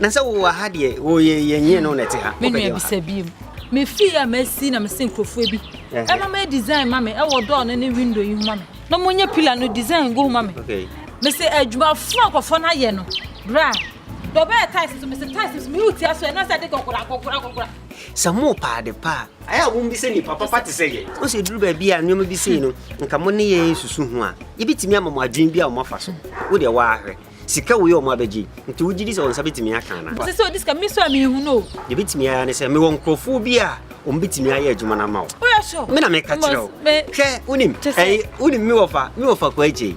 na sɛ wowɔ ha deɛ woyɛ yɛnyɛ no na ɛte ha menua bisa biem mefii a masi na mese nkurɔfoɔ bi ɛma mɛ design ma me ɛwɔ dɔɔ no ne window yi ho ma me na monyɛ pila no design go ho ma me mese adwumafoɔ akɔfoɔ no ayɛ no bra dɔbɛɛ tais so mese tais so mewo tia so ɛna sɛ de gɔgora gɔgora gɔgora sɛ mo paade paa Ayɛ a wɔn bi sɛ nipa papa te sɛ yɛn. Ose eduru baabi a nneɛma bi sei no nka mo ne yɛn nsusu ho a yɛbɛtumi ama mo adwene bi a wɔn afa so. Wo deɛ waa hwɛ. Sika wei a wɔn abɛgye yi nti wogye di sɛ wɔn nsa bɛtumi aka anaa? Ose sɛ odi sika me nso a me nhunu o. Deɛ ɛbɛtumi ayɛ ara ne sɛ mewɔ nkorɔfoɔ bi a wɔn bɛtumi ayɛ adwuma no ama wo. Woyɛ sure? Me na meka kyerɛ wo. Hwɛ wonim ɛyi wonim me wɔfa me wɔfa Kwaakyei.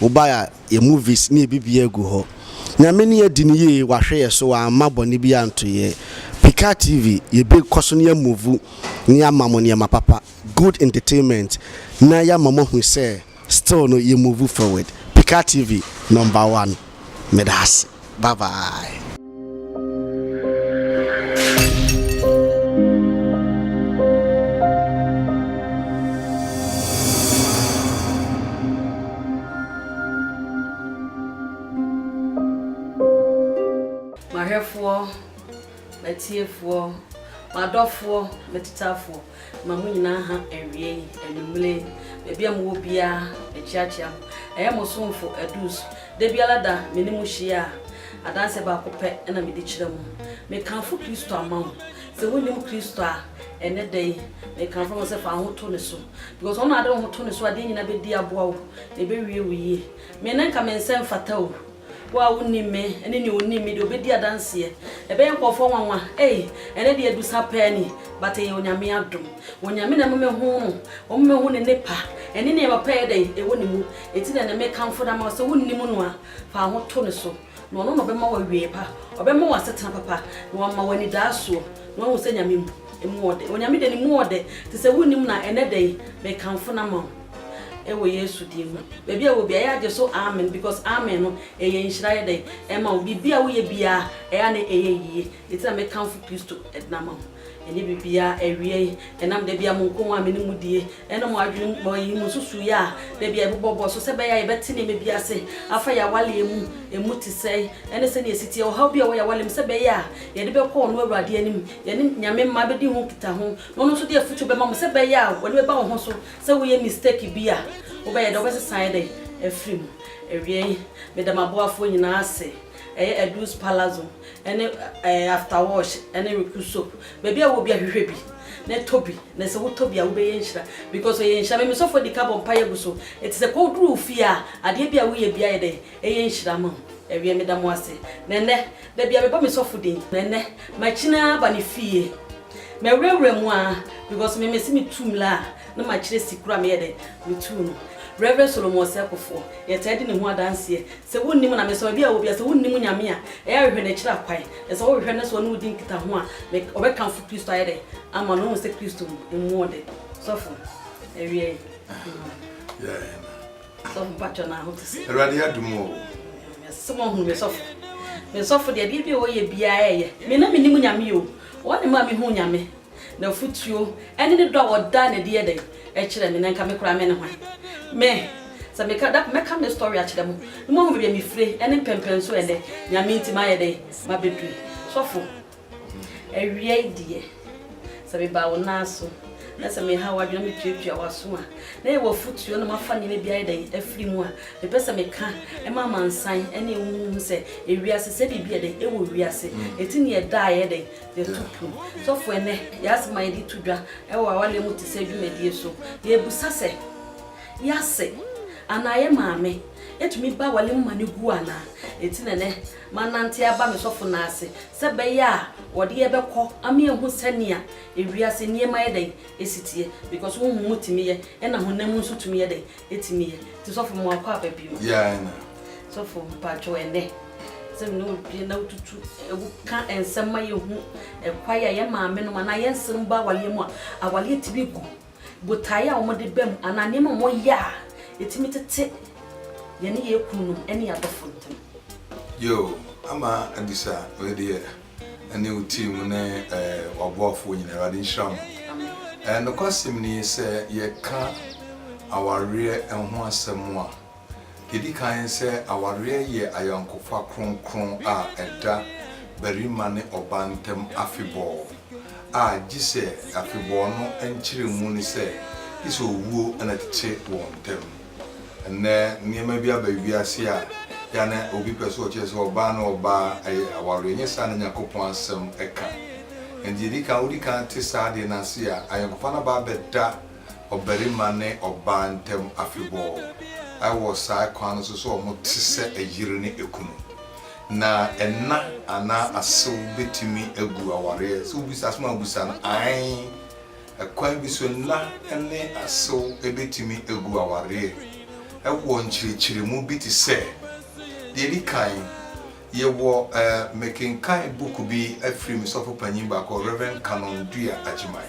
Wobae a, yɛn movies ne yɛn biribiara gu hɔ. Nyame ne adi no yie, wahwɛ yɛn so, wamma bɔne biara anto yɛn. Pikaa TV, yɛbɛkɔ so ne yɛn movu ne yɛama mo nneɛma papa, good entertainment, na yɛama moahu sɛ still no yɛ movu forward. Pikaa TV, number one. Meda ase. Bye bye. M'ahwɛfoɔ M'atiefoɔ, m'adɔfoɔ, m'atitafoɔ, ma mo nyinaa ha awia yi, anwummere yi, baabi a mowɔ biara, mekyeakyea mo. Ɛyɛ mo somfo Adus. Da biara da, me ne mo hyia a, adanseɛ baako pɛ na mede kyerɛ mo. Mekamfo Kristo ama wo. Sɛ wonnim Kristo a, ɛnnɛ da yi, mekamfo ama wo sɛ fa wo ho to ne so. Because ɔno na wode wo ho to ne so a, adeɛ nyinaa bɛdi aboa wo, na ɛbɛwie wo yie. Me na nka me nsa mfata o. Wo a wunnim me ne nea onim me de, obedi adanseɛ. Ɛbɛyɛ nkurɔfoɔ nwanwa, ei, ɛnnɛ deɛ adu saa paa ni, but ɛyɛ Onyame adom. Onyame na ɛma mehu no, ɔma mehu ne nnepa, ɛne nea papa yɛ dɛn? ɛwɔ ne mu. Enti na ɛnnɛ mekamfo no ama wo, sɛ wonnim no a, fa wo ho to ne so, na ɔno na ɔbɛma wo awieɛ pa, ɔbɛma wo asetena papa, na wama wo anidaasoɔ, na wahu sɛ Nyame mu, emu ɔdɛ. Onyame deɛ ne mu ɔdɛ, enti sɛ wonnim no a, ɛnnɛ dɛn? mekamfo no ama wo. Ɛwɔ Yesu din mu. Baabi a ɛwɔ biara yɛagye so amen because amen no ɛyɛ nhyira ayɛ dɛn ɛma wo biribi a woyɛ biara ɛyɛ a na ɛyɛ yie nti na mekamfo Kristo ɛdena ama mo ɛnyɛ biribiara awieɛ ɛnam da biara mo nkɔmmɔ a me ne mo die ɛne mo adwene mu ɛyi mo nsusuiɛ a da biara ɛbobɔbɔ so sɛ ɛbɛyɛ a yɛbɛte nneɛma bi ase afa yɛn awaleɛ mu ɛmu te sɛn ɛne sɛnea ɛsi teɛ ɔhaw bi a ɛwɔ yɛn awaleɛ mu sɛ ɛbɛyɛ a yɛde bɛkɔ ɔno Awurade anim yɛne Nyame mma bɛdi ho nkitaho na ɔno nso de afotuo bɛma mo sɛ ɛbɛyɛ a ɔde bɛba wo ho so Sɛ woyɛ mistake bi a, wobɛyɛ dɛn? Wobɛsesa ayɛ dɛn afiri mu? Awiei, meda m'aboafoɔ nyinaa ase, ɛyɛ Edouce Palazzo ne ɛɛ After Wash ne Recu Soap. Baabi a wowɔ biara hwehwɛ bi na tɔ bi, na sɛ wotɔ bi a wobɛyɛ nhyira because ɛyɛ nhyira. Me me sɔfoɔ di kan bɔ mpaeɛ gu so, ɛti sɛ kɔ duru wo fie a, adeɛ bi a woyɛ biara yɛ dɛn? Ɛyɛ nhyira ma wo. Awiei, meda mo ase. Na ɛnnɛ, da biara mebɔ me sɔfo din, na ɛnnɛ, makyini ara aba ne fie. Mɛwurawura mu aa because me mese me tu mmla a na makyerɛ si koro a meyɛ dɛn me tu no. Rev Solomon Ɔsɛkofoɔ yɛtaa di ne ho adanseɛ sɛ wonnim na mesɔre biaa wɔ bia sɛ wonnim Nyame a ɛyɛ a hwehwɛ no akyiri akwan na sɛ wohwehwɛ no na sɛ ɔne wo di nkitaho a me ɔbɛkamfo Kristo ayɛ dɛn ama no wohu sɛ Kristo mmuɔ de sɔfo awiɛɛ. Sɛ ɔmo patwɔ na ho te sɛ. Awurade adum o. Mese mo ahunu me sɔfo. Me sɔfo deɛ bia bia ɔyɛ bia ɛyɛ. Me na me nim nyame yi o. Ɔne maa me hu nyame. Na futuo ɛne ne dɔ a ɔda na ɛde yɛ dɛn ɛkyerɛ me na nka me koraa me ne hwan. Me sɛ me ka da mɛ ka me story akyerɛ mo na mo ahu baabi a me fire ɛne mpɛmpɛn so ɛnɛ nyame nti ma yɛ dɛn ma bɛ duru sɔfo. Awiei deɛ, sɛ meba wo nan so na sɛ mehaw w'adwene na metuatua w'aso a, na yɛwɔ afotuo na moafa nneɛma bi ayɛ dɛn afiri mu a, mepɛ sɛ meka ma amansan ne wo ho hu sɛ ewiase sɛ biribi yɛ dɛn wɔ wiase ɛti ne ɛda a yɛyɛ dɛn yɛto pum. Sɔfo ɛnɛ yɛ asɛm a yɛde to dwa wɔ awareɛ mu te sɛ dwumadie so yɛbusa sɛ yɛ ase anaa yɛ maame ɛtumi ba awareɛ mu ma no gu anaa ɛti na ɛnɛ Mannante aba me sɔfo no ase sɛ ɛbɛyɛ a wɔde yɛ bɛkɔ ama yɛahu sɛnea ewiase nneɛma yɛ dɛn si teɛ because honhom mu tumi yɛ ɛna honam mu nso tumi yɛ dɛn ɛtumi yɛ nti sɔfo mmoa kɔ aba bio. Yɛa na. Sɔfo mpakyɛw ɛnɛ sɛ me ne wo due na wotutu wo ka nsɛm ma yɛhu ɛkwae a yɛn maame nom anaa yɛn nserem ba awaleɛ mu a awaleɛ tumi gu. Botae a wɔde ba mu anaa nneɛma a wɔyɛ a etumi tete yɛne yɛn kununom ne yɛn adɔfo ntam. Yiw, ama abisa wei deɛ, ɛne wo team ne w'aboafoɔ nyinaa, Awurade nhyira mo. Amen. Nokwasɛm nie, sɛ yɛka awareɛ ho asɛm a, Ɛdi kan sɛ awareɛ yɛ ayɔnkofa kronkron a ɛda barima ne ɔbaa ntam afebɔɔ a gye sɛ afebɔɔ no nkyerɛmu ne sɛ gye sɛ owuo na ɛtete wɔn ntam. Ɛnnɛ nneɛma bi aba wiase a yɛ a na obi pɛ sɛ ɔkyerɛ sɛ ɔbaa ne ɔbaa ɛyɛ awareɛ. Ɛnyɛ saa na Nyankopɔn asɛm ɛka. Ɛnti ɛdi kan wodi kan te saa adeɛ no ase a ayɔnkofa no aba abɛda ɔbarima ne ɔbaa ntam afebɔɔ. Ɛwɔ saa kwan no so sɛ wɔte sɛ yere ne kunu. Na ɛna anaa asew betumi agu awareɛ? Sɛ wobisa asɛm a wobisa no, ae. Ɛkwan bi so nna ne asew betumi agu awareɛ. Ɛwɔ nkyerɛkyerɛmu bi te sɛ, Deɛ ɛdi kan, yɛwɔ eh, mekenkan book bi afiri me sɔfo panyin baako, Rev. Canon Duya Agyeman.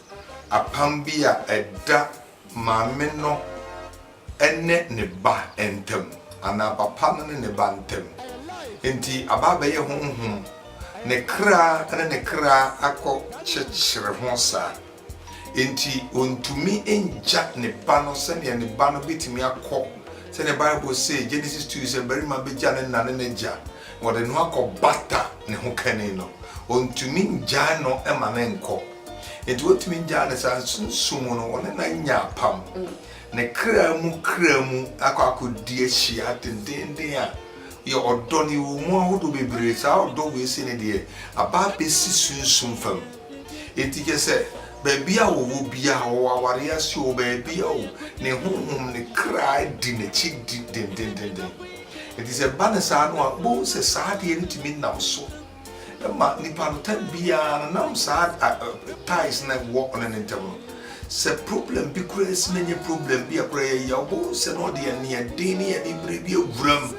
apam bi a ɛda maame no ne ne ba ntam, anaa papa no ne ne ba ntam. Enti aba abɛyɛ honhom, ne kra ne ne kra akɔkyekyere ho saa. Enti ɔntumi ngya ne ba no sɛdeɛ ne ba no bɛtumi akɔ, sɛdeɛ Bible se, Genesis 2 sɛ, Barima bɛgya ne na ne n'agya, na ɔde ne ho akɔbata ne ho kani no. Ɔntumi ngyae no ma no nkɔ. Enti wɔntumi ngyaa ne saa. Sunsum mu no, wɔne no anya apam. Ne kra mu kra mu akɔ akɔdi ahyia dendeenden a, yɛ ɔdɔ no yɛwɔ mu ahodoɔ bebree. Saa ɔdɔ wei sei no deɛ, aba abɛsi sunsum fam. Enti kyɛ sɛ, baabi a wɔwɔ biara, wɔwɔ awareɛ ase o, baabi a o, ne honhom, ne kra di n'akyi di dendendendenn. Enti sɛ ɛba no saa no a, wobɛhu sɛ saa adeɛ no tumi nam so. ma nipa no time biara no nam saa ties na ɛwɔ ɔne ne ntam no sɛ problem bi kura asi na nye problem bi a kura yɛ yɛ ɔbɔ sɛ na ɔde yɛ ne ɛden ne yɛ ne bere bi awura mu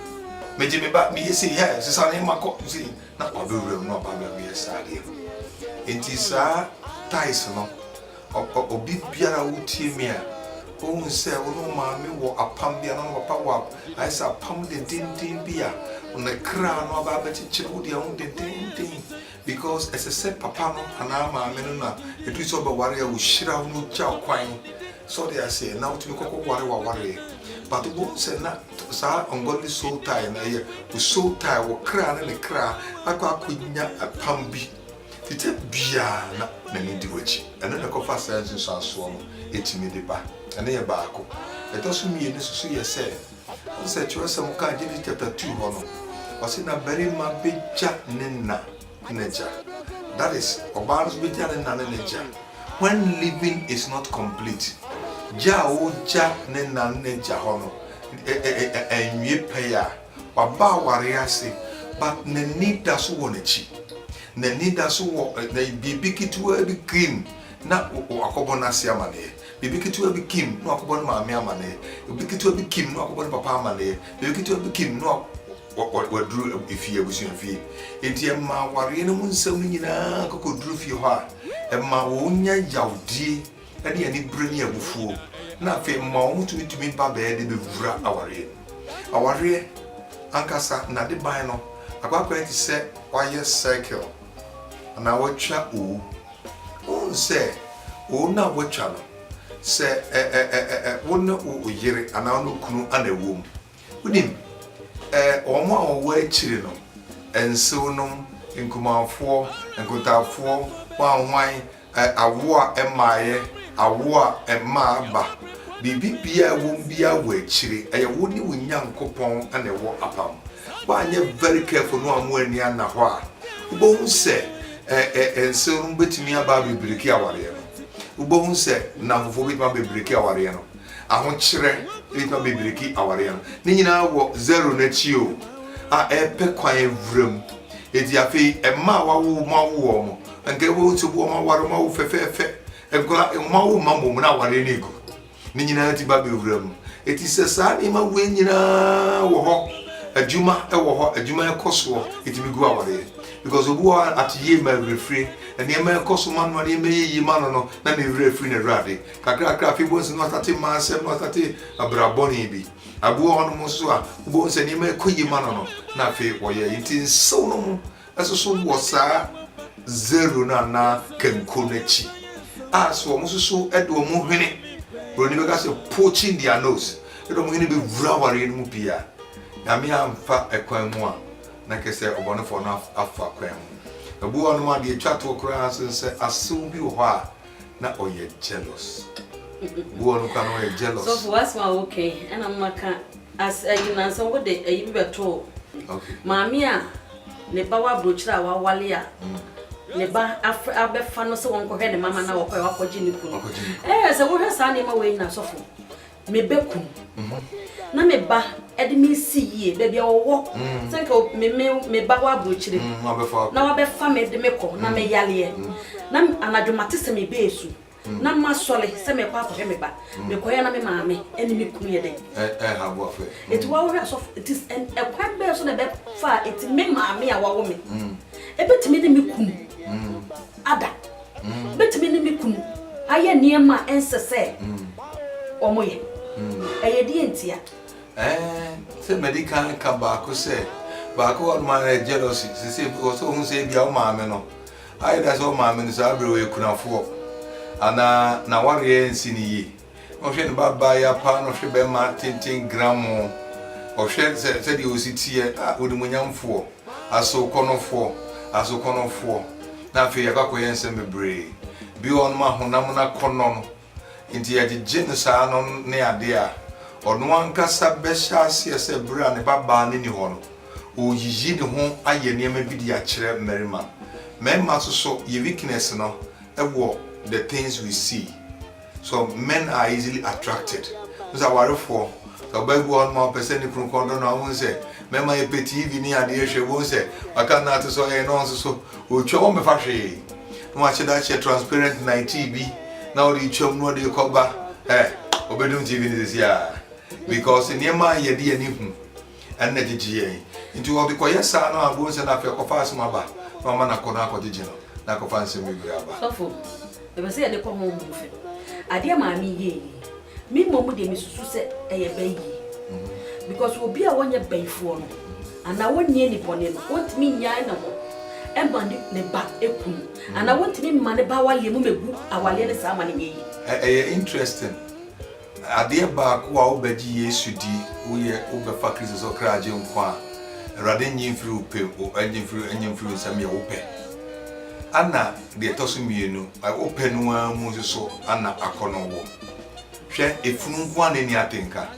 megye me ba meyɛ sei hɛ sesa ne ma kɔ sei na wabɛwura mu na ɔba bɛwura saa deɛ no nti saa ties no Ɔpɛ obi biara a wotie me a wohu sɛ wo ne wo maame wɔ apam bi anaa wo ne wo papa wɔ ayɛ sɛ apam dendeenden bi a ne kra no aba abɛkyekyere wo deɛ ho dendeenden because ɛsɛ sɛ papa no anaa maame no na ɛduru sɛ ɔbɛware a wɔhyira wo na ɔgya wo kwan sɛ ɔde aseɛ na wotumi kɔkɔ ware wawareɛ but wobɛhu sɛ na saa ungodly soul tie no ɛyɛ wo soul tie wo kra ne ne kra akɔ akɔnya apam bi Tete biara na n'ani di w'akyi. Ɛno na ɛkɔfa saa nsunsuansoɔ no tumi de ba. Ɛno yɛ baako. Ɛtɔ so mmienu nso so yɛ sɛ, wohu sɛ twerɛsɛm kaa Genesis chapter two hɔ no, ɔse na barima bɛgya ne na ne n'agya. That is, ɔbaa nso bɛgya ne na ne n'agya. When living is not complete, gya a wogya ne na ne n'agya hɔ no ɛnwie pɛyɛ a, Waba awareɛ ase but n'ani da so wɔ n'akyi. N'ani da so wɔ biribi ketewaa bi kim na wakɔbɔ n'ase amaneɛ. Biribi ketewaa bi kim na wakɔbɔ ne maame amaneɛ. Biribi ketewaa bi kim na wakɔbɔ ne papa amaneɛ. Biribi ketewaa bi kim na waduru efie, abusuafie. Enti ɛmaa awareɛ no mu nsɛm no nyinaa kɔkɔduru fie hɔ a, ɛmaa wɔnya yawdie. ne anibere ne abufuo, na afei mma wɔn tumi tumi ba bɛɛ de bɛwura awareɛ mu. Awareɛ ankasa n'adeban no akɔ akɔyɛ te sɛ wayɛ circle anaa watwa owu. Wohu sɛ owu no a watwa no, sɛ ɛ ɛ ɛ ɛ wo ne wo yere anaa wo ne wo kunu na ɛwɔ mu. Wonim, eh, wɔn a wɔwɔ akyiri no, nsew-nom, nkumanfoɔ, nkotafoɔ, hwanhwan, eh, awo a ɛmmaeɛ, awo a ɛmmaa aba, biribi biara a ɛwɔ mu biara wɔ akyire. Ɛyɛ wo ne wo Nyankopɔn na ɛwɔ apam. Woanyɛ very careful na wammu ani anna hɔ a, wobɛhu sɛ, eh, eh, eh, nsew-nom bɛtumi aba abɛbreki awareɛ no. Wobɛhu sɛ nnamfofoɔ bɛtumi abɛbreki awareɛ no. Ahokyerɛ nnipa bebree ki aware ano. Ne nyinaa wɔ zero no akyi o, a ɛpɛ kwan awura mu. Eti afei mma a wawo wɔn awo wɔn mo. Anka ɛwɔ wɔn sɛ wɔn aware wɔn awo fɛfɛɛfɛ. Nkora wɔn awo mma mmom na aware no egu. Ne nyinaa ti ba bɛwura mu. Eti sɛ saa nneɛma wei nyinaa wɔ hɔ, adwuma wɔ hɔ, adwuma ɛkɔ soɔ, etumi gu awareɛ. Because obi wɔ hɔ a ate yie ma awerɛfire, nneɛma ɛkɔ so ma no, nneɛma yɛ yie ma no no, na ne werɛ firi n'Awurade. Kakrakra afei bohu sɛ na wasate mma asɛm na wasate abra bɔne bi. Abi wɔ hɔnom nso a wobɛhu sɛ nneɛma ɛkɔ yie ma no no na afei wɔyɛ yi nti nsew no mu ɛsoso wɔ saa zero no anaa kanko no akyi a sɛ wɔn soso de wɔn hwene buroni bɛka sɛ poaching their nose ɛde wɔn hwene bɛwura awareɛ no mu pii a nyame amfa ɛkwan mu a na kɛ sɛ ɔbɔnefoɔ no afa kwan mu. Abi wɔ hɔnom a deɛ ɛtwa toɔ koraa nso sɛ asew bi wɔ hɔ a na ɔyɛ jealous bu ɔno kora no ɔyɛ jealous. sɔfo w'asɛm a woka yi ɛna mma ka as ayi nansa wode ayi bi bɛtoo maame a ne ba wɔ aburokyire a wawale a ne ba abɛfa no sɛ wɔnkɔhwɛ ne mama na wɔkɔɛ wakɔgye ne kunu ɛɛ sɛ wohwɛ saa nneɛma wei nyina sɔfo me ba kun na me ba de me si yie baabi a wɔwɔ mm. sɛ nka me me me ba wɔ aburokyire mm, na wabɛfa me de me kɔ na mm. me yaleɛ na anadwo mate sɛ me bɛɛ su na ma sɔle sɛ mekɔ akɔhwɛ me ba mekɔyɛ na me maame ɛne me kunu yɛ dɛn ɛti wawohwɛ asɔfo ɛti ɛkwan bɛɛ so na ɛbɛfa ɛti me maame a wawo me ɛbɛtumi ne me kunu ada Mɛtumi ne me kunu ayɛ nneɛma a ɛnsɛ sɛ wɔyɛ. Ɛyɛ deɛn ntia? Sɛ madi kan ka baako sɛ, baako hɔ nom a ɛyɛ jealousy. Sese wɔ sɛ ohun sɛ ebi a wo maame no ayɛ da sɛ wo maame no saa bere wɔ akunafoɔ anaa n'awareɛ nsi no yie. na ɔhwɛ ne babaa ya paa na ɔhwɛ bɛrima tenten gramoo, ɔhwɛ sɛ sɛdeɛ ɔsi teɛ, a onimuonyamfoɔ, asowkɔnɔfoɔ, asowkɔnɔfoɔ, na afei yɛakɔ akɔyɛ nsɛm bebree bi wɔ hɔ nom a honam no akɔnnɔ no nti yɛagyegye no saa no ne adeɛ a ɔno ankasa bɛhyɛ aseɛ sɛ berɛ a ne babaa no nni hɔ no ɔreyiyi ne ho ayɛ nneɛma bi de akyerɛ mmarima. Mmarima nso so, yɛ weakness no wɔ the things we see. So men are easily attracted? Wohu sɛ awarefoɔ, sɛ ɔbaa bi wɔ hɔnom a ɔpɛ sɛ ne kunu kɔn dɔ no a, wohu sɛ mmarima yɛ pɛ TV ne adeɛ hwɛ, wohu sɛ waka no ate sɛ ɔyɛ na ɔnso so ɔtwa wɔn mɛfa hwee na wahyɛ da akyɛ transparent night bi na ɔde twam na ɔde kɔba ɛ ɔbɛdum TV no sisi a because nneɛma a yɛde ani hu Ɛno na gyegye yɛn. Nti ɔde kɔyɛ saa no a, bohu sɛ na afei ɔkɔfa asɛm aba na wama no akɔ na akɔgyegye no na akɔfa nsɛm bebree aba. Sɔfo, ɛpɛ sɛ yɛde kɔ honhom mu fam. Adeɛ a Maame yɛɛ yi, me mmom deɛ mesusu sɛ ɛyɛ bayie. Because obi a ɔnyɛ bayifoɔ no, anaa ɔnni ani bɔne no, ɔntumi nnyae ne ho mma ne ne ba kunu, anaa ɔntumi mma ne ba awaleɛ mu mmɛgu awaleɛ no saa ma no nyɛ yie. Ɛyɛ interesting. Adeɛ baako a wobɛgye Yesu di, woyɛ, wobɛfa Kristo sɛ ɔkra gye nkwa a, Awurade nnye mfiri wo pɛ, ɔnnye mfiri, ɔnnye mfiri wo nsam yɛ wo pɛ. Ana deɛ ɛtɔ so mmienu, wo pɛ no ara mu nso so ana akɔnnɔ wɔ? Hwɛ, efunu nko ara na enni atenka.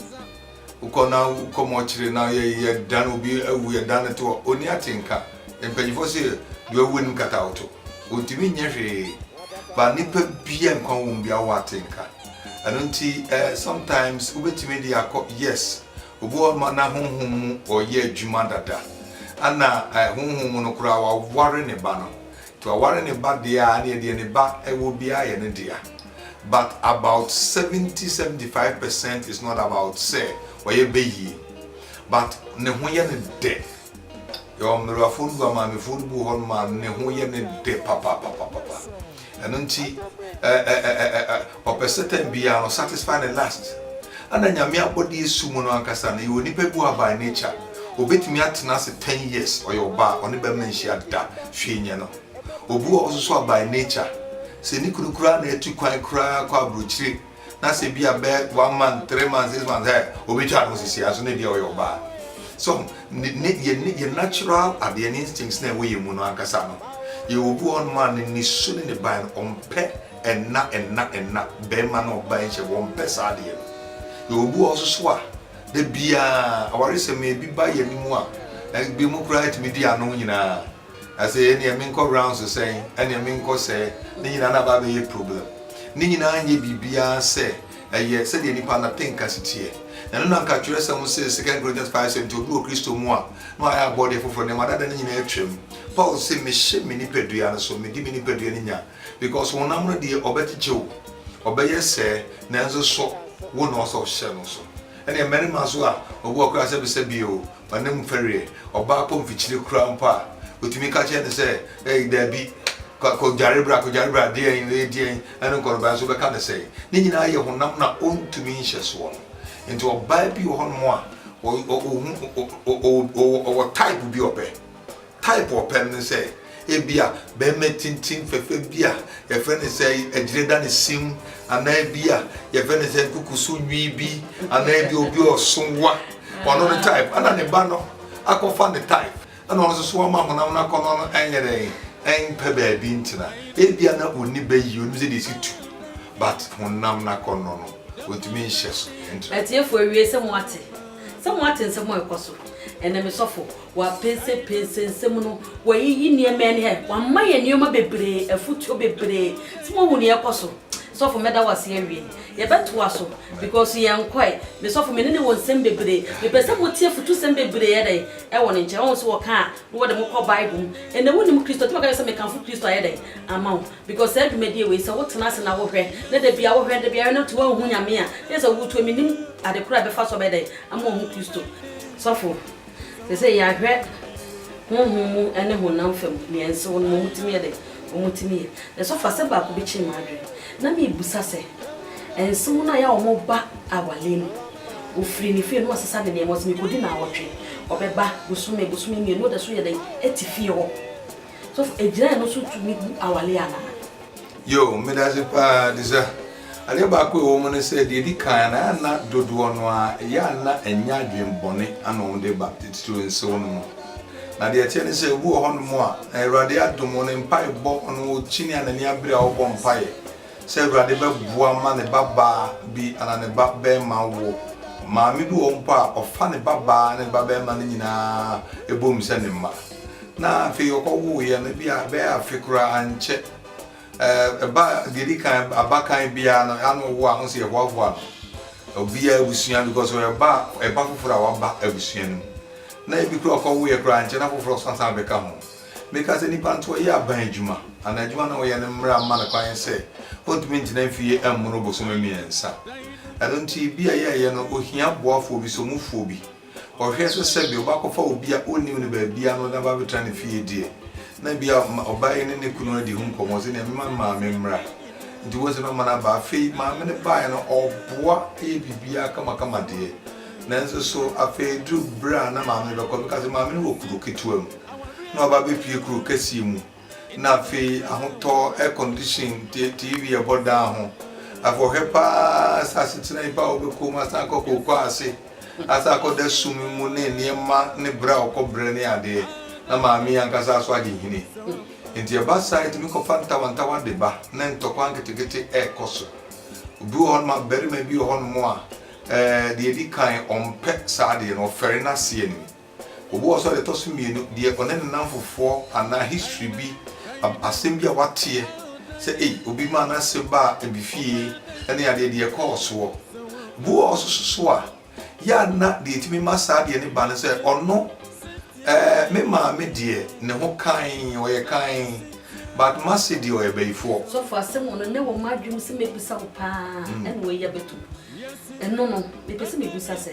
Wokɔ na wokɔ mɔkyere na yɛdan obi awu, yɛdan no to a, ɔnni atenka. Mpanyimfoɔ se deɛ wawu anim kata wo to. Ɔntumi nyɛ hwee. Ba nnipa bia nkwa wɔ mu bia wɔ atenka. Ɛno nti eh, sometimes wobɛtumi de akɔ, yes, obi wɔ ma na honhom mu ɔyɛ adwuma dada. Ana eh, honhom mu no koraa waware ne ba no. To aware ne ba deɛ a neɛ deɛ ne ba wɔ biara yɛ ne dea but about seventy seventy five percent is not about sɛ ɔyɛ bɛ yie but ne ho yɛ ne dɛ yɛwɔ mmerɛwafoɔ no bu a maamefoɔ no bu hɔ no ma ne ho yɛ ne dɛ papapapapapa ɛno nti Ɔpɛ Satan biara no satisfy ne lust. Ana Nyame abɔdeɛ su mu no ankasa no yɛ onipa bi a by nature obetumi atena ase ten years ɔyɛ ɔbaa ɔne barima nhyia da hwee nyɛ no. Obi wɔ hɔ nso so a by nature sɛ ne kunu koraa na atu kwan koraa kɔ abrokyire na sɛ bi a bɛ one month, three months, six months ɛ obetwa ne ho sisi a nso na ebi a ɔyɛ ɔbaa. So ne ne yɛ ne yɛ natural adeɛ ne instincts na ɛwɔ yɛn mu no ankasa no yɛ obi wɔ hɔ nom a ne ne su ne ne ban no ɔmpɛ Ɛnna ɛnna ɛnna bɛɛma ne ɔbaa yi nhyɛ wɔn pɛ saa adeɛ no yɛwɔ bi wɔ hɔ soso a da biaa awaresɛm no ebi ba yɛn anim a ebi mo koraa tumi di ano nyinaa ɛsɛ ɛneɛ me nkɔ rounds sɛn ɛneɛ me nkɔ sɛɛ ne nyinaa na aba abɛyɛ problem ne nyinaa nyɛ biribiaa sɛ ɛyɛ sɛdeɛ nipa na te nka si teɛ na ɛno na nka twerɛsɛm se second Corinthians 5 sɛ nti obi wɔ Kristo mu a na wayɛ abɔdeɛ foforɔ nneɛma dada no nyinaa atwam Paul se mehyɛ me nipadua no so medi me nipadua no nya Because honam no deɛ ɔbɛkyekye wo, ɔbɛyɛ sɛɛ, nanso so wo na ɔsɛ ɔhyɛ no so? Ɛnneɛ mmarima nso a obi wɔ koraa sɛbesɛbee o, w'anim fɛreɛ, ɔbaa kɔ mfikyire koraa mpo a, wotumi ka kyerɛ no sɛ, Ei, dabi, kɔ, kɔdware bra, kɔdware bra, deɛn, wei deɛn, ɛne nkɔnɔbaa nso wobɛka no sɛn? Ne nyinaa yɛ honam no a ɔntumi nhyɛ soɔ no. Nti ɔbaa bi wɔ hɔnom a, ɔhu, ɔwɔ type bi ɔpɛ, Type ɔpɛm ne sɛ ebia barima tintim fɛfɛ bi a yɛfrɛ no sɛ agyire da ne sim anaa ebi a yɛfrɛ no sɛ nkukuso nwi bi anaa ebi obi a ɔso wa ɔno ne type ɛna ne ba no akɔfa ne type ɛna ɔno nso so ama honam no akɔ no no ɛnyɛ dɛn ɛmpɛ baabi ntena ebia na ɔni bɛ yi ɔnim sɛ deɛ si tu but honam no akɔ no no ɔntumi nhyɛ so ɛntra. Atiefoɔ awie sɛ mo ate sɛ mo ate nsɛm a ɛkɔ so ɛnɛ mesɔfo Wɔapɛnsɛpɛnsɛ nsɛm no, wɔayiyi nneɛma ani hɛ, wɔama yɛn nneɛma bebree, afutuo bebree. Sɛ moahu nea ɛkɔ so. Sɔfo mɛda wo ase awie. Yɛbɛtoa so because yɛnkɔe. Me sɔfo me ne no wɔ nsɛm bebree. Mepɛ sɛ motie afutusɛm bebree yɛ dɛn ɛwɔ ne nkyɛn. Ɔho nso wɔka a na wɔde mo kɔ Bible mu. Ɛnɛ wonim Kristo nti mɛka kyerɛ sɛ mekamfo Kristo ayɛ dɛn ama wo. Because saa dwumadie wei sɛ wotena ase na wohwɛ na da biara wohwɛ da biara wohwɛ na nti woanhu Nyame a na yɛ sɛ woretu a mennim ade koro a ɛbɛfa so abɛyɛ dɛn ama wahu Kristo. Sɔfo Te sɛ yɛahwɛ honhom mu ne honam fam nea nsew no ma wɔtumi yɛ dɛn? Wɔtumi yɛ. Nanso afa asɛm baako bi kyere m'adwene. Ná mibisa sɛ, nsew no a ɛyɛ a wɔba aware mu, wɔfiri ne fie na wɔasesa ne nneɛma, ɔse mekɔdi nnawɔtwe, ɔbɛba bosome, bosome mmienu, ɔda so yɛ dɛn? Te fie hɔ. Sɔfo, ɛgyina ɛno so tumi bu aware anaa? Yoo, medase paa Adisa. Adeɛ baako a ɛwɔ mu ne sɛ, deɛ ɛdi kan no, a na dodoɔ no ara, ɛyɛ a na ɛnyɛ adwene bɔne ana wɔn de ba, titiriw nsew no mu. Na deɛ ɛteɛ ne sɛ, obi wɔ hɔnom a, na Awurade adom wɔn mpaebɔ, ɔno okyini a n'ani abere a ɔbɔ mpaeɛ sɛ Awurade bɛboa ma ne babaa bi anaa ne ba barima awo. Maame bi wɔ hɔ mpo a, ɔfa ne babaa ne ne ba barima no nyinaa bom sɛ ne mma. Na afei ɔkɔwoeɛ no, ebia ɛbɛyɛ afe koraa ankyɛ, ɛɛ ba deɛ edi kan abakan biara no, ano ɔwo a, ɔsɛ yɛhoahoa no. Obiara abusua because ɔyɛ ba a ɛba foforɔ a waba abusua no mu. Na ebi koraa ɔkɔwoeɛ koraa ankyɛ na foforɔ nso asan abɛka ho. Meka sɛ nipa nso ɔyɛ aban adwuma anaa adwuma no a ɔyɛ no mmara mma no kwan sɛ ɔntumi ntena mfie mmono bosome mmiɛnsa. Ɛno nti bia yɛyɛ no ohia boafoɔ bi, somufoɔ bi. Ɔhwɛ so sɛ bia ɔbakɔfa obi a ɔnnim no baabiara na ɔde no aba abɛtena ne fie deɛ, na bia ɔbaa yi ne ne kunu adi ho nkɔmmɔ sɛ nea mema me maame mmra. Nti wɔn sɛ na ɔma no aba. Afei maame no baeɛ no ɔboa yɛ biribiara kamakama deɛ. Nanso so afei duru berɛ a na maame no bɛkɔ bɛka sɛ maame no wɔ kuro ketewa mu na waba abɛpue kuro kɛseɛ mu. na afei ahotɔ, air condition, tie TV, ɛbɔ daa ho. Afei ɔhwɛ paa sɛ asetena yi pa a ɔbɛkɔ mu asan akɔ kookoo ase, asan akɔda sum mu ne nneɛma ne brɛ a ɔkɔ brɛ ne adeɛ, na maame yi ankasa nso agye nhini. Enti ɛba saa a, ɛtumi kɔfa ntawantawa de ba, na ntɔkwa nketekete rekɔ so. Obi wɔ hɔnom a, barima bi wɔ hɔnom a, eh, deɛ ɛdi kan, ɔmpɛ saa adeɛ no, ɔfɛre n'aseɛ no mu. Obi wɔ hɔ sɛ ɔde ɛtɔ so mmienu deɛ ɔne ne nnamfofoɔ anaa history bi ab asɛm bi a wateɛ sɛ ei obi maa n'ase baa ebi fie ne adeɛ deɛ ɛkɔɔ soɔ. Obi wɔ hɔ nso so so a yɛ a na deɛ ɛtumi ma saa adeɛ no ba ne sɛ ɔno eh me maame deɛ ne ho kann ɔyɛ kann but m'ase deɛ ɔyɛ bayifoɔ. Sɔfo asɛm wɔ no nnɛ wɔ m'adwene mu sɛ mɛbisa wo paa ɛna wei abɛto mu. Ɛno no, mepɛ sɛ mibisa sɛ,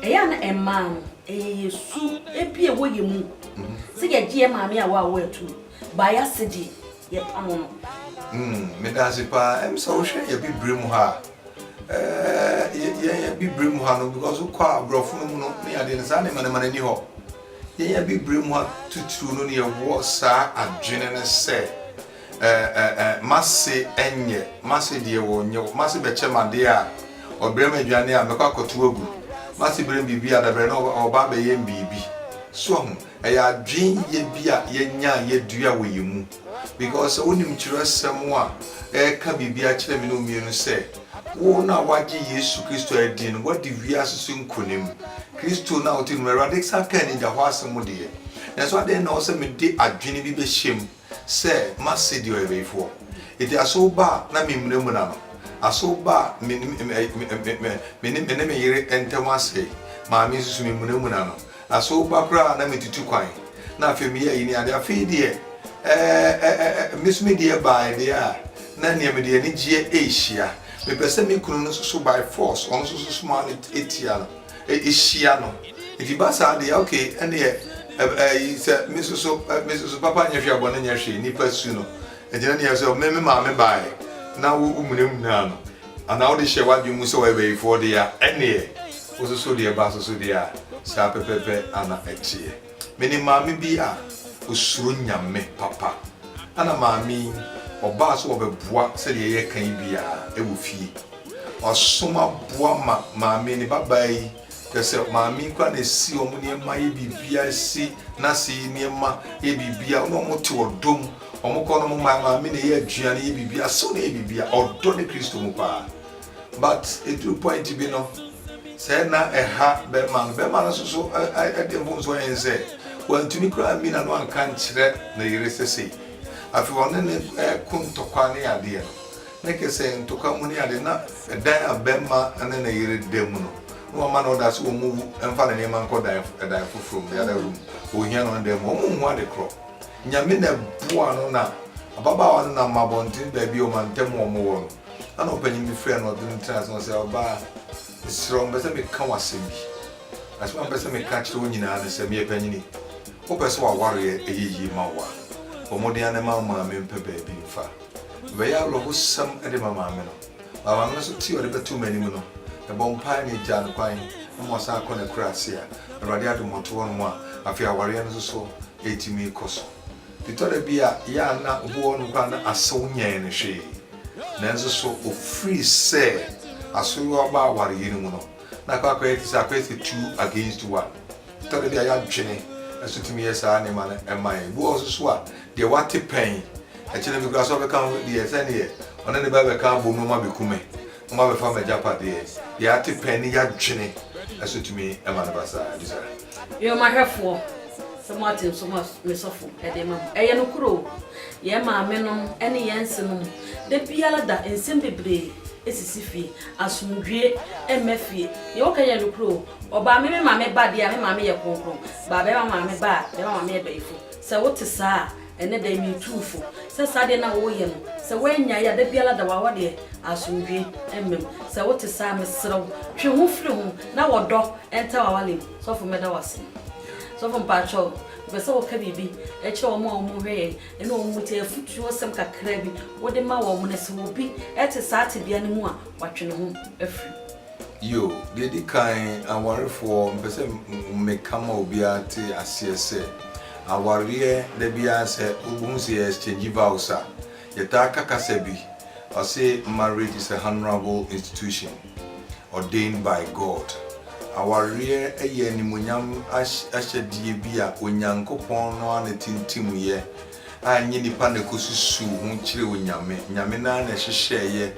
ɛyɛ a na mmaa no, ɛyɛ yɛn su bi a ɛwɔ yɛn mu sɛ yɛgye yɛn maame a wɔawo atom, bae ase deɛ, yɛpa no no? Mm, meda ase paa. Ɛm sɛ wohwɛ yɛ Bibirem ha a, ɛɛ, yɛ, yɛn Bibirem ha no, because wokɔ a Borɔfo no mu no ne adeɛ no, saa nneɛma nneɛma no ani hɔ. Yɛn Bibirem ha titiriw no, no yɛwɔ saa adwene no sɛ, Eh eh eh M'ase ɛnyɛ M'ase deɛ wɔ nyɛ wɔ M'ase bɛkyɛ m'adeɛ a Ɔbrɛ m'aduane a mɛkɔ akɔto agu M'ase brɛ me biribi a dabrɛ no ɔba abɛyɛ me biribi So ahu? Ɛyɛ adwenyɛ bi a yɛanya a yɛadua wɔ yɛn mu Because sɛ wonim twerɛsɛm a ɛreka biribi akyerɛ me ne wo mmienu sɛ Wo no a woagye Yesu Kristo adie no woadi wiase so nkonim Kristo no a wote no mu Awurade san kaa anigya hɔ asɛm deɛ Nanso adɛn na ɛwɔ sɛ mede adwene bi bɛhyɛ mu? Sɛ m'asedi ɔyɛbɛyifoɔ, enti asow ba a na memmunamuna no, asow ba a me ne me yere ntam asɛe maa me nso so memmunamuna no, asow ba koraa a na metutu kwan, na afei meyɛ ayi ne ade. Afei deɛ, eh-eh-eh-eh, me nso medeɛ baeɛ deɛ a, na nea mede anigyeɛ rehyia. Mepɛ sɛ me kunu no nso so by force, ɔno nso so soma ano tia no. hyia no nti ba saa deɛ ok ɛneɛ ɛyi sɛ me nso so me nso so papa nyɛ hwee abɔne nyɛ hwee nipa su no ɛgyina ne yɛ sɛ me me maame baeɛ na wo womunamunaa no anaa wode hyɛ w'adwene mu sɛ wɔyɛ bayifoɔ deɛ a ɛneɛ wososo deɛ ba soso deɛ a saa pɛpɛpɛ ana ɛteɛ. Menim maame bi a ɔsuro Nyame papa. Ana maame yi, ɔbaa sɛ ɔbɛboa sɛdeɛ yɛreka yi biara wɔ fie. Ɔsom aboa ma maame, ne babaa yi, kyerɛ sɛ maame yi koraa na ɛsi wɔn nneɛma yɛ biribiara, ɛsi n'ase yi nneɛma yɛ biribiara. Wɔn a wɔte ɔdɔ mu, wɔkɔ no wɔma maame na ɛyɛ aduane, yɛ biribiara, asew na ɛyɛ biribiara. Ɔdɔ ne Kristo mu paa. But ɛduru point bi no sɛ na ɛha bɛrima no, bɛrima no nso so ɛde mfomsoɔ yɛ ne sɛ wantumi koraa mmi n'ano anka nkyerɛ ne yere sɛ sei. Afei ɔne ne ɛko ntɔkwa ne adeɛ no, ne kɛ sɛ ntɔkwa mu ne adeɛ na ɛdan a bɛrima ne ne yere da mu no, na wama no ɔda sɛ wɔn mu mfa ne nneɛma nkɔ dan ɛdan foforɔ mu, the other room, ɔhia no ne dan mu, wɔn nhu ade korɔ. Nyame na ɛboa no na ababaawa no nam abɔnten baabi a ɔmantam wɔn wɔ no. Ɛna ɔpanyin bi frɛɛ no, ɔde no tenaa ase na ɔse, Ɔbaa, mesrɛ wo, mepɛ sɛ meka wo asɛm bi. Asɛm a mepɛ sɛ meka kyerɛ wo nyinaa ne sɛ, meyɛ panyini. Wopɛ sɛ w'awareɛ yɛ yie ma wo a, bɔ mmɔden ara na ma wo maame mpɛ baabi mfa. Mebɛyɛ awerɛhosɛm de ma maame no. Ma maame no so te ɔde bɛto m'anim no. Mebɔ mpaeɛ na egyaa no kwan na ma ɔsan kɔ n'akurase a, Awurade adom ɔte hɔnom a, afei awareɛ no nso so retumi kɔ so. Etɔ da bi a, ɛyɛ a na obi wɔ hɔnom koraa a na asew nyɛɛ no hwee. Nanso so ofiri sɛ asoyewa ba awareyɛ no mu no, na akɔ akɔyɛ te sɛ akɔyɛ sɛ two against one? Etɔ da bi a yɛadwene nso tumi yɛ saa nneɛma no ma yɛn. Ebi wɔ hɔ nso so a, deɛ wate pɛn, ɛkyena bi koraa sɛ ɔbɛka ho deɛ sɛdeɛ ɔne ne ba bɛka abom no abɛku me. Moabɛfa m'agyapadeɛ. Deɛ ate pɛn ne yadwene so tumi ma no ba saa. Bisa. Nnwomahwɛfoɔ, sɛ moate nso ma me sɔfo de ma mo. Ɛyɛ nokorɛ o, yɛn maamenom ne yɛn nsenom da biara da nsɛm bebree sisi fie. Asomdwoeɛ mma fie. Deɛ wɔka nyinaa yɛ nokorɛ o. Ɔbaa me me maame ba deɛ a, me maame yɛ kronkron. Baabɛrima maame ba a, bɛrima maame yɛ bayifo. Sɛ wote saa a, Ɛnnɛ da yi, metu wo fo sɛ saa deɛ no a woreyɛ no, sɛ woannyae a, da biara da wo a wɔ deɛ, asomdwoeɛ mma mu. Sɛ wote saa a, mesrɛ wo, twe ho firi ho na wɔ dɔ nta w'awale mu. Sɔfo, mɛda wo ase. Sɔfo, mpakyɛw, mepɛ sɛ woka biribi kyerɛ wɔn a wɔrehwɛ yɛn ne wɔn mu tie, afotuosɛm kakraa bi wode ma wɔn na sɛ obi te saa tebea no mu a, watwe ne ho afiri. Yo, Deɛ ɛdi kan, awarefoɔ, mepɛ sɛ meka ma obiara te aseɛ sɛ, awareɛ da biara sɛ wobɛhu sɛ yɛ exchange vows a, yɛtaa ka kasa bi, ɔse marriage is a honourable institution ordained by God. Awareɛ yɛ animuonyam ahyɛdeɛ bi a Onyankopɔn no ara na ɛtintimyɛ a ɛnyɛ nnipa na ɛkɔsusuw ho kyerɛɛ Onyame. Nyame no ara na ɛhyehyɛeɛ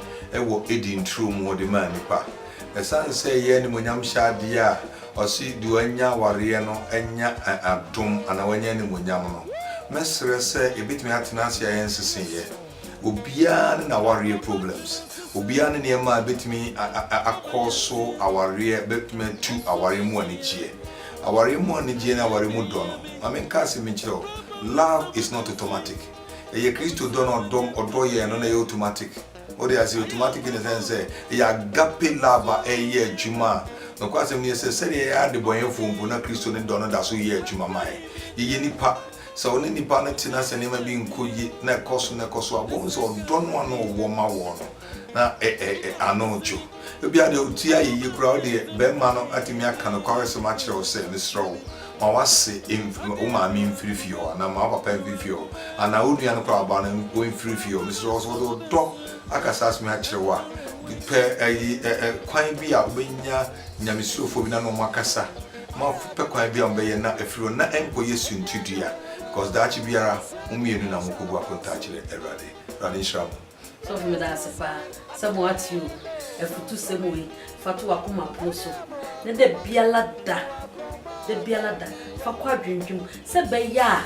wɔ Eden turo mu de maa nnipa. Ɛsiane sɛ ɛyɛ animuonyamhyɛ adeɛ a ɔse deɛ wanya awareɛ no anya adom anaa wanya animuonyam no, mɛsrɛ sɛ yɛbɛtumi atena ase a yɛnseseeɛ. Obiara ne n'awareɛ problems. Obiara ne nneɛma a ɛbɛtumi akɔɔso awareɛ, ɛbɛtumi atu awareɛ mu anigyeɛ. Awareɛ mu anigyeɛ ne awareɛ mu dɔ no, ma menka asɛm bi nkyerɛ wo, love is not automatic. Ɛyɛ Kristo dɔ no, ɔdɔ, ɔdɔ yɛn no na ɛyɛ automatic. Wode aseɛ? Automatic in the sense sɛ, ɛyɛ agape love a ɛreyɛ adwuma a, nokwasɛm ne sɛ, sɛdeɛ yɛyɛ adebɔnyɛfoɔ mpo na Kristo ne dɔ no da so yɛ adwuma ma yɛn. Yɛyɛ nnipa. Sɛ ɔne nipa no te na sɛ nneɛma bi nkɔ yie na ɛkɔ so na ɛkɔ so a, bohu sɛ ɔdɔ no a na ɔwɔ ma wɔ no na ɛ ɛ ɛ ano dwo. Ebia deɛ ɔtie ayɛyie koraa wo deɛ bɛrima no atumi aka nokwaresɛm akyerɛ wo sɛ, mesrɛ wo, ma w'ase mf wo maame mfiri fie hɔ anaa ma wo papa mfiri fie hɔ anaa wo nua no koraa ɔbaa no ɔmfiri fie hɔ, mesrɛ wo. Sɛ ɔde ɔdɔ aka saa asɛm yi akyerɛ wo a, pɛ ayi ɛ ɛ kwan bi a wobɛnya Nyamesurofoɔ bi na ne wɔn akasa. Moapɛ kwan bi a mobɛyɛ na afiri hɔ na ɛnkɔyɛ suntidua because daakye biara mo mmienu na mokɔgu akontaa akyerɛ Awurade. Awurade nhyira mo. Sɔfo meda ase paa sɛ mo ate o afutu sɛm wei fa to wakoma pono so na da biala da da biala da fa kɔ adwendwem sɛ bɛyɛ a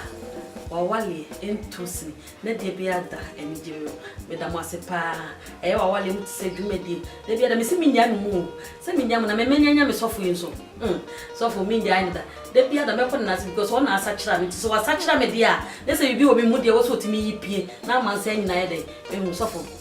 wawaleɛ ɛnto sini Na deɛ bi ada anigye mu. Meda mo ase paa. Ɛyɛ w'awale mu te sɛ dwumadie. Da biara mese mennyae mo mu o. Sɛ mennyae mo na me mɛnya anya me sɔfo yi nso. Humm. Sɔfo mengyae no da. Da biara da mɛkɔ ne nan ase because ɔna asakyera me nti sɛ wasakyera me deɛ a na sɛ biribi wɔ me mu deɛ ɛwɔ sɛ ɔtumi yi pie na ama nsa nyinaa ayɛ dɛn? Ɛhu sɔfo.